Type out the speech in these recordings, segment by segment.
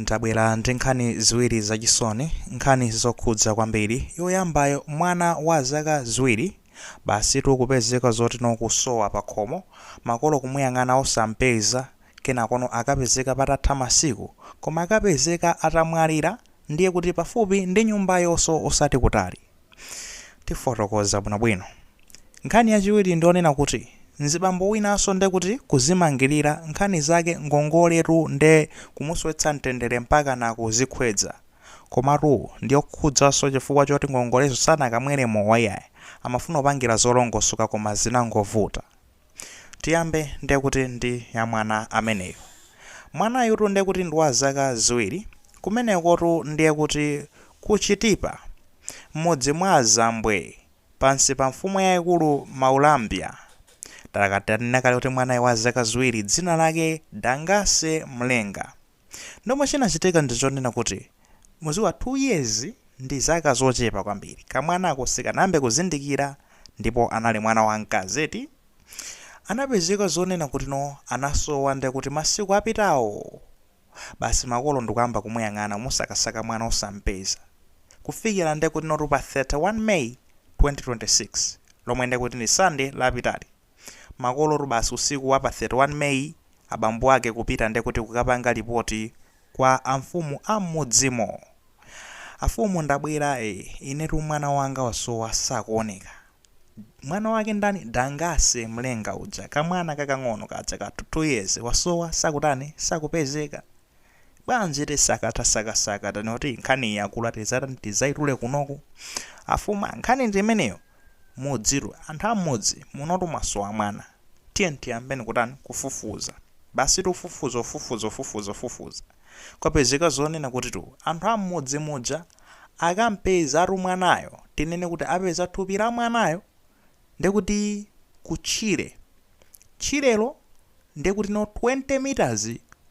Ndabwera ndi nkhani ziwiri zachisoni, nkhani zokhudza kwambiri. Yoyambayo, mwana wa zaka ziwiri basitu kupezeka zoti no kusowa pakhomo, makolo kumuyang'ana osampeza, kenakono akapezeka patatha masiku, koma akapezeka atamwalira, ndiye kuti pafupi ndi nyumbayonso osati kutali. Tifotokoza bwinobwino. Nkhani yachiwiri ndi yonena kuti mzibambo winanso nde kuti kuzimangilira nkhani zake ngongoletu nde kumusowetsa mtendere mpakana kuzikhwedza. Komatu ndiyokhudzanso chifukwa choti ngongolezo sanakamwere mowa iyayi, amafuna kupangira zolongosoka koma zinangovuta. Tiyambe nde kuti ndi ya mwana ameneyu. Mwanayutu nde kuti ndi wa zaka ziwiri. Kumenekotu ndiye kuti ku Chitipa, m'mudzi mwa a Zambwe, pansi pa mfumu yaikulu Mwaulambya. Takati tinanena kale kuti mwanayu wa zaka ziwiri dzina lake Dangase Mlenga. Ndiye chomwe chinachitika ndi chonena kuti muziwa 2 years ndi zaka zochepa kwambiri kamwanako sikanayambe kuzindikira ndipo anali mwana wa mkazi eti anapezeka zonena kuti no anasowa ndekuti masiku apitawo basi makolo ndikuyamba kumuyang'ana kumusakasaka mwana osampeza kufikira ndekuti notu pa 31 May 2026 lomwe ndekuti ndi Sunday lapitali makolotu basi usiku wa pa 31 May abambo ake kupita nde kuti kukapanga lipoti kwa amfumu a m'mudzimo. Amfumu ndabwera eh, inetu mwana wanga wasowa sakuoneka. Mwana wake ndani? Dangase Mlenga uja, kamwana kakang'ono kaja ka 2 years wasowa sakutani, sakupezeka. bwanji tasakatasakasaka taona kuti nkhani yakula tizatani tizaitule kunoku amfumu nkhani ndi imeneyo mudzitu anthu ammudzi munotu mwasowa mwana tiyeni tiyambeni kutani kufufuza basi tufufuza ufufuza ufufuza ufufuza kwapezeka zonena kutitu anthu ammudzi muja akampezatu mwanayo tinene kuti apeza thupi la mwanayo ndiye kuti ku tchire, tchirelo ndiye kuti no 20 meters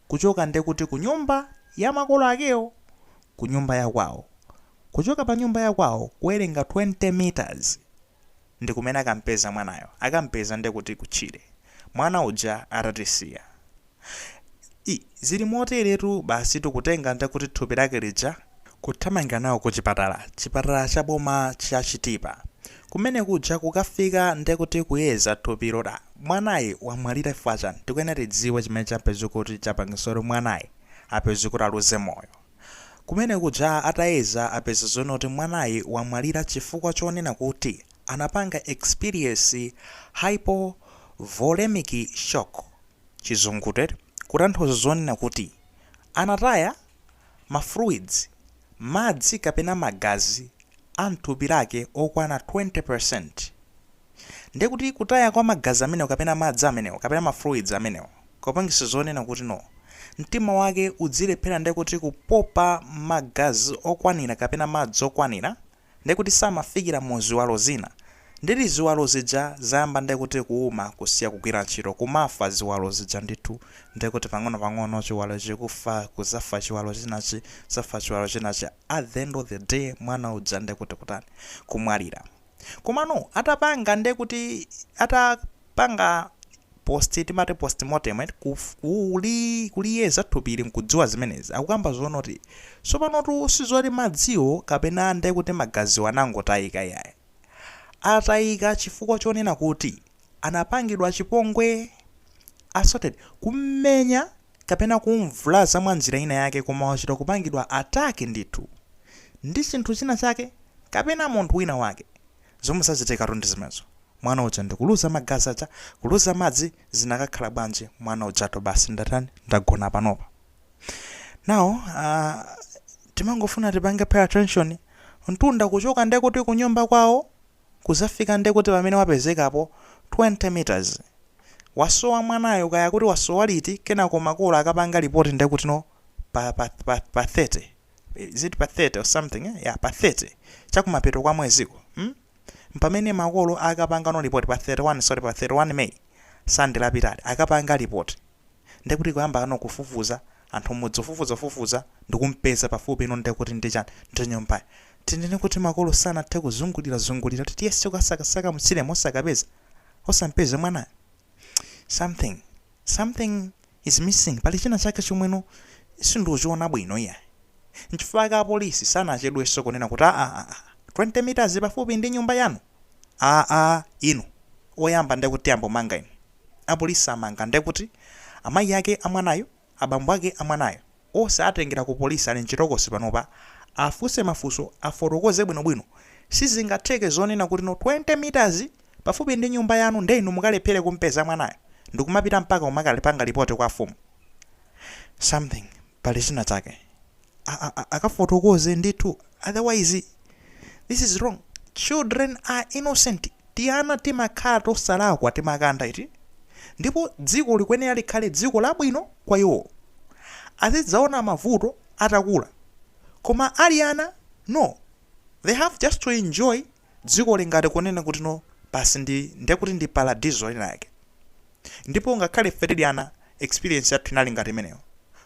kuchoka ndiye kuti kunyumba ya makolo akewo, kunyumba ya kwawo. Kuchoka pa nyumba ya kwawo kuwerenga 20 meters ndi kumene akampeza mwanayo. Akampeza ndiye kuti ku tchire. Mwana uja atatisiya. Ii, zili moteretu basitu kutenga nde kuti thupi lake lija. kuthamangira nalo kuchipatala, chipatala cha boma cha Chitipa kumene kuja. Kukafika nde kuti kuyeza thupilo da, mwanayi wamwalira chifukwa chani? Tikuyenera tidziwe chimene chapezeka kuti chapangisa kuti mwanayi apezeke kuti aluze moyo. Kumene kuja atayeza apeza zonena kuti mwanayi wamwalira chifukwa chonena kuti anapanga experience hypovolemic shock. chizungulire kutanthauza zonena kuti anataya ma fluids, madzi kapena magazi, a mthupi mwake okwana 20%. Ndiye kuti kutaya kwa magazi amenewo kapena madzi amenewo kapena ma fluids amenewo kupangisa zonena kuti no mtima wake udzilephera ndiye kuti kupopa magazi okwanira kapena madzi okwanira ndekuti samafikira mu ziwalo zina ndiye ziwalo zija zayamba ndekuti kuuma kusiya kugwira ntchito kumafa ziwalo zija ndithu ndekuti pang'ono pang'ono chiwalo chikufa kuzafa chiwalo chinachi kuzafa chiwalo chinachi at the end of the day mwana uja ndekuti kutani kumwalira komano atapanga ndekuti ata kupanga post amati postmortem eti kuf, kuli, kuliyeza thupili nkudziwa zimenezi akukamba zoona kuti sopanotu sizoti madziwo kapena ndekuti magaziwo anangotayika iyayi atayika chifukwa chonena kuti anapangidwa chipongwe assaulted kummenya kapena kumvulaza mwa njira ina yake koma wachita kupangidwa attack ndithu ndi chinthu china chake kapena munthu wina wake Zomwe zachitikatu ndi zimenezo. Mwana uja ndi kuluza magazi aja, kuluza madzi, zinakakhala bwanji mwana ujatu basi watani, wagona panopa. Now, uh, timangofuna tipange pay attention, mtunda kuchoka nde kuti kunyumba kwawo kuzafika nde kuti pomwe wapezekapo 20 meters. Wasowa mwanayo kaya kuti wasowa liti, kenako makolo akapanga report nde kuti no pa, pa, pa, pa 30. is it pa 30 or something eh? yeah, pa 30 chakumapeto kwa mweziko hmm? mpamene makolo akapangano report pa 31 sorry pa 31 may sande lapitali akapanga report ndekuti kuyambano kufufuza anthu mmudzi kufufuza fufuza ndikumpeza pafupi ino ndekuti ndichani ndinyumbayo tinene kuti makolo sanathe kuzungulira zungulira kuti tiyese kukasakasaka mtchiremo osakapeza osampeze mwanayo something something is missing pali china chake chomweno sindikuchiona bwino iya nchifukwa ake apolisi sanachedwenso kunena kuti aa ah, ah, ah, 20 meters pafupi ndi nyumba yanu aa inu oyamba ndekuti ayambe amanga inu apolisi amanga ndekuti amayi ake amwanayo abambo ake amwanayo ose atengera ku police ali mchitokosi panopa afunse mafunso afotokoze bwino bwino sizingatheke zonena kuti no 20 meters pafupi ndi nyumba yanu nde inu mukalephere kumpeza mwanayo ndikumapita mpaka kumakapanga report kwa afumu something pali zina zake a a a akafotokoze ndithu otherwise this is wrong children are innocent tiana timakhala tosalakwa timakanda eti ndipo dziko likuyenera likhale dziko labwino kwa iwo azidzaona mavuto atakula koma ali ana no they have just to enjoy dziko lingati kunena kuti no basi ndi ndekuti ndi paradiso lina yake Ndipo ngakhale ife tili ana, experience yathu inali ngati imeneyo.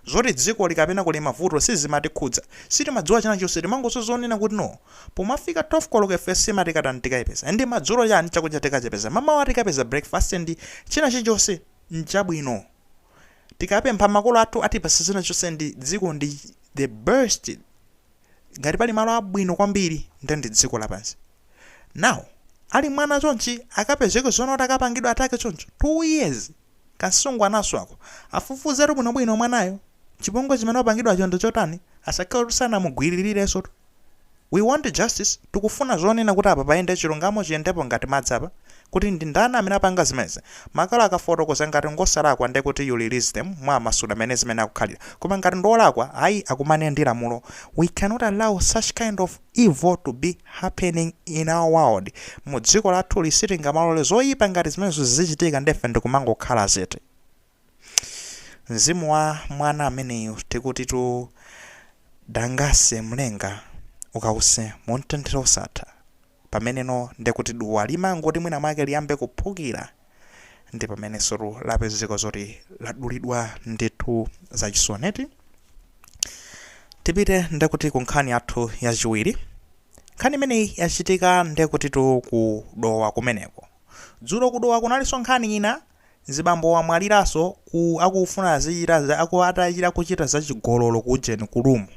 Zoti dzikoli kapena kuli mavuto sizimatikhudza. Sitimadziwa china chilichonse, timangodziwa zonena kuti no. Pomafika 12 koloko ife sima tikatani tikaipeza. And madzulo chani, chakudya tikachipeza. Mamawa tikapeza breakfast and china chilichonse nchabwino. Tikapempha makolo athu atipatsa china chilichonse and dziko ndi the best. ngati pali malo abwino kwambiri nde ndi dziko lapansi now ali mwana chonchi akapezeke zonena kuti akapangidwe attack choncho 2 years kamsungwanaso ako afufuzetu bwinobwino mwanayo chipongwe chimene wapangidwacho ndi chotani asakhale kuti sanamugwirirensotu we want justice tikufuna zonena kuti apa payende chilungamo chiyendepo ngati madzi apa kuti ndi ndani amene apanga zimenezi. Akakakafotokoza ngati ngosalakwa ndiye kuti you release them mwamasula mene zimenezi zikukhalira koma ngati ndi olakwa ayi akumane ndi lamulo we cannot allow such kind of evil to be happening in our world mu dziko lathuli sitingamalole zoyipa ngati zimenezo zizichitika nde ife ndikumangokhala zete mzimu wa mwana ameneyu tikutitu Namalenga ukause mumtendere osatha. pameneno nde kuti duwa limangoti mwina mwake liyambe kuphukira ndi pamenensotu lapezeka zoti ladulidwa ndithu zachisoni eti tipite nde kuti ku nkhani yathu yachiwiri nkhani imeneyi yachitika nde kutitu ku Dowa kumeneko dzulo ku Dowa kunalinso nkhani ina Mzibambo wamwaliraso ku akufuna kuchita za chigololo ku ujeni ku room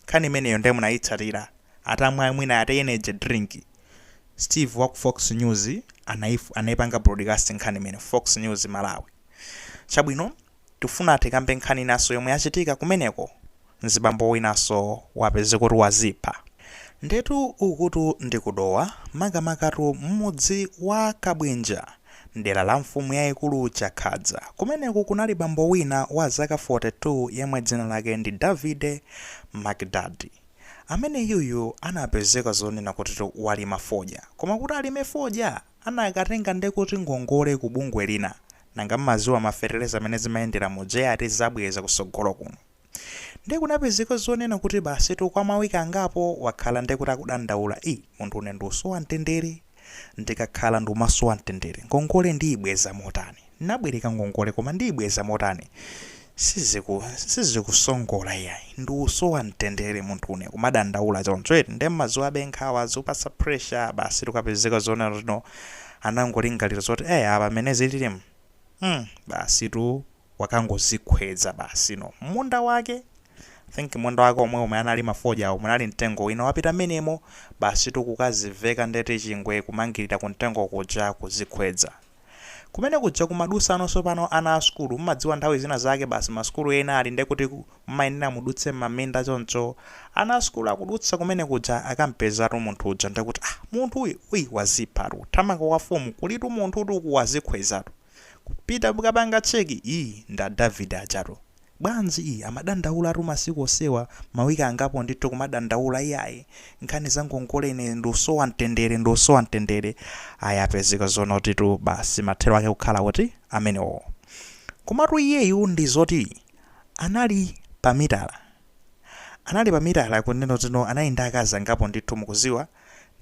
nkhani imeneyo nde munayitsatira atamwa mwina atamwa energy drink Steve waku fox news anayipanga broadcast nkhani imene fox news Malawi chabwino Tifuna tikambe nkhani inaso yomwe yachitika kumeneko mzibambo winaso wapezeka kuti wazipha. Ndetu ukutu ndi ku Dowa makamakatu mmudzi wa Kabwinja mdera la mfumu yaikulu Chakhadza. Kumeneku kunali bambo wina wa zaka 42 yemwe dzina lake ndi Davide Makidadi. Ameneyuyu anapezeka zonena kutitu walima fodya. Koma kuti alime fodya anakatenga ndekuti ngongole ku bungwe lina. Nanga mumaziwa ma feteleza mene zimayendela muja ea ati azabweza kusogolo kuno nde kunapezeka zonena kuti basitu kwa ma week angapo wakhala ndekuti akudandaula ii munthu une ndiusowa mtendere ndikakhala ndiumasowa mtendere ngongole ndiyibweza motani nabwereka ngongole koma ndiyibweza motani siziku sizikusongola iyayi ndiusowa mtendere munthune kumadandaula choncho eti nde mmaziwabe nkhawa zikupasa pressure basitu kwapezeka zonena kuti no anangolingalira zoti ee apa mmene zililimu mm basitu wakangozikhwedza basi no mmunda wake I think munda wake omwe omwe analima fodyawo munali mtengo wina wapita mmenemo basitu kukaziveka nde kuti chingwe kumangilira kumtengo kuja kuzikhwedza Kumene kuja kumadusa nosopano ana a sukulu, mumadziwa nthawi zina zake basi ma sukulu ena ali nde kuti mumayenera mudutse mmaminda choncho ana a sukulu akudutsa kumene kuja akampezatu munthu uja nde kuti ah munthu uyu uyu waziphatu kuthamanga kwa mfumu kuli munthutu uku wazikhwezatu kupita kukapanga check ii nda Davide ajatu Bwanji ii amadandaulatu masiku osewa mawiki angapo ndithu kumadandaula iyayi nkhani za ngongole ine ndusowa mtendere ndusowa mtendere ayi wapezeka zoona kutitu basi mathero ake kukhala kuti amenewowo komatu iyeyu ndi zoti anali pa mitala anali pa mitala kunena kuti no anali ndi akazi angapo ndithu mukuziwa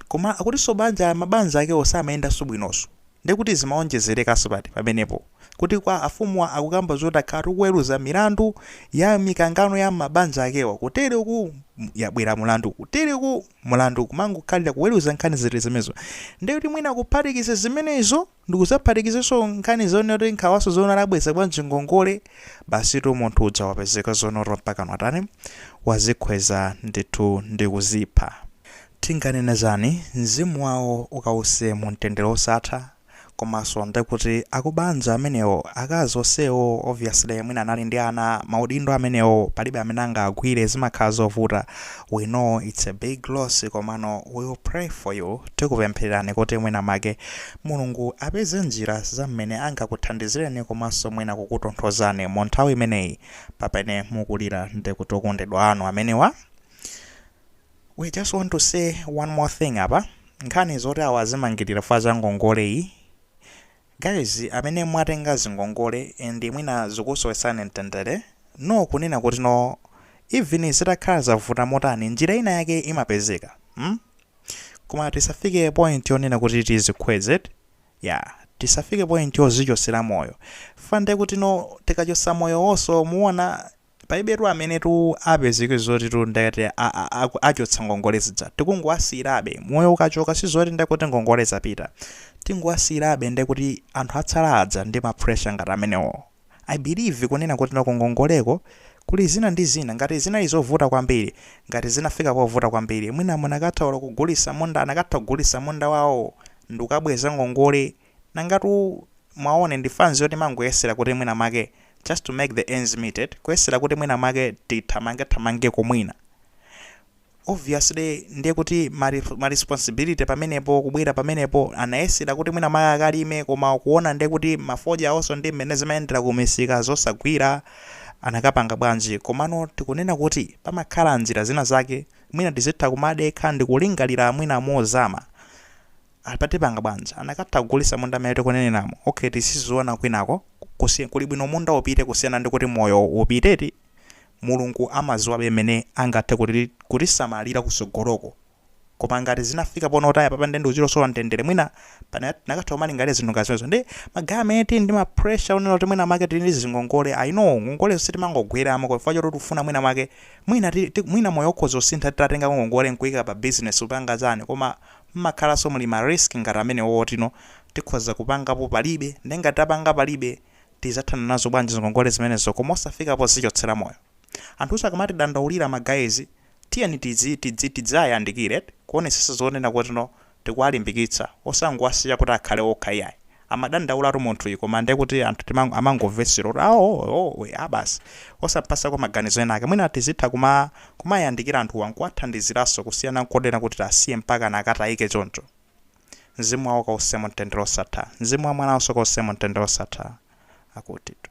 koma akutiso banja mabanja akewo samayendaso bwinoso nde kuti zimawonjezereka so pati pamenepo kuti kwa afumuwa akukamba zoti akhala tikuweluza milandu ya mikangano ya mmabanzi akewo kutele uku yabwela mulandu kutele uku mulandu kumangokhalila kuweluza nkhani ziti zimenezo nde kuti mwina kuphatikiza zimenezo Ndikuzaphatikizaso nkhani zonena kuti nkhawaso zonena kuti abweza bwanji ngongole, basitu munthu uja wapezeka zoona kuti mpakana watani, wazikhweza ndithu ndikuzipha. Tinganene zani, mzimu wawo ukause mumtendere osatha, komaso ndekuti akubanja amenewo, akazi osewo obviously mwina anali ndi ana, maudindo amenewo palibe amene angawagwire zimakhala zovuta, We know it's a big loss komano we'll pray for you tikupemphererani kuti mwina make Mulungu apeze njira za mmene angakuthandizireni komanso mwina kukutonthozani mu nthawi imeneyi pamene mukulira ndi kuti okondedwa anu amenewa we just want to say one more thing apa nkhani zoti awa azimangirira chifukwa cha ngongoleyi Guys amene mwatenga zingongole and mwina zikukusowetsani mtendere no kunena kuti no even zitakhala zavuta motani njira ina yake imapezeka mm koma tisafike point yonena kuti tizikhwez yeah tisafike point yozichotsera moyo chfukwa ndekuti no tikachotsa moyowoso muona Palibetu amenetu apezeke zotitu ndekuti achotsa ngongole zija tikungowasiyirabe moyo ukachoka sizoti ndekuti ngongole zapita tingowasiyirabe ndekuti anthu atsala aja ndi ma pressure ngati amenewo I believe kunena kuti no kungongoleko kuli zina ndi zina ngati zinali zovuta kwambiri ngati zinafika povuta kwambiri mwina munakatha olo kugulisa munda anakatha kugulisa munda wawo ndikukabweza ngongole Nangatu mwaona ndi fanzi yoti imangoyesera kuti mwina mwake just to make the ends meet eti, kuyesera kuti mwina mwake tithamangethamangeko mwina. Obviously ndiye kuti ma ma responsibility pamenepo kubwera pamenepo anayesera kuti mwina mwake akalime koma ukuona ndiye kuti mafodyawoso ndi mmene zimayendera ku misika zosagwira anakapanga bwanji. Komano tikunena kuti pamakhala njira zina zake mwina tizitha kumadekha ndikulingalira mwina mozama. Apa tipanga bwanji? Anakatha kugulisa munda amene tikunenayo? Ok si zoona kwinako kusi kuli bwino munda upite kusiyana ndi kuti moyo upite eti? Mulungu amaziwabe mmene angathe kutisamalira kusogoloko koma ngati zinafika pomautaya papa nde ndikuchita kusowa mtendele mwina pana tinakatha kumalingalira zinthu ngati zimenezo ndi ma guy amene tili ndi ma pressure onena kuti mwina mwake tili ndi zingongole I know ngongolezo sitimangogweramo kwa chifukwa choti tikufuna mwina mwake mwina ti, ti, mwina moyo ukhoza kusintha titatengako ngongole nkuika pa business kupanga chani koma mmakhalanso muli ma risk ngati amenewo otino tikhoza kupangapo palibe nde ngati tapanga palibe tizathana nazo bwanji zingongole zimenezo koma osafika pozichotsera moyo anthuwaso akamatidandaulira ma guys tiyeni tidzi tidzi tidziwayandikira eti kuonesesa zonena kutino tikuwalimbikitsa osangowasiya kuti akhale okha iyayi amadandaulatu munthuyi koma ndi kuti anthu timang- timangomvesera kuti awo oh, we, ah, basi osampasako maganizo ena ake mwina tizitha kuma kumayandikira anthuwa nkuwathandiziranso kusiyana nkonena kuti tasiye mpaka nakatayike choncho mzimu wawo kause mumtendere osatha mzimu wa mwananso ukause mumtendere osatha akutitu